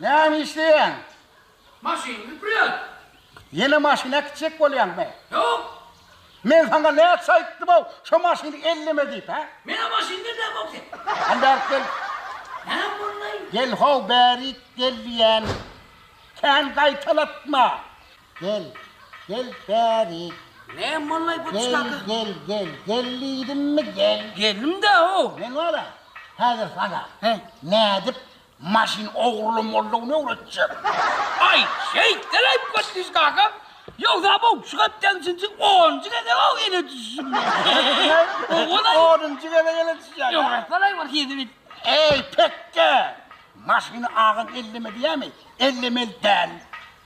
Näme işleýäň? Maşyny süpürýän. Ýene maşyny äkitjek bolýaňmy? Ýok. Men saňa näçe aýtdym-ow, şo maşyny elleme diýip, hä? Men-ä maşyny elläp-ow sen. Hany bärik gel. Näme boldy-aý? Gel-how bärik gel diýýän. Kän gaýtalatma. Gel, gel bäri. Ne mollay bu çaky? Gel, gel, gel, gel diýdimmi, gel. Geldim-dä, ow. Men wala, häzir sana nädip maşyn ogrulamalydygyny öwretjek. Aý, şeýtdel aýyp geçdiş kaka. Ýogsa bu şu hepdäň üçünji, onunjy gezeg-ow ele düşüşim men. Onunjy gezeg ele düşýäň. Ýogarsalaý bir hezil. Eý, pekge! Maşyny agam elleme diýämi? Ellemeli däl.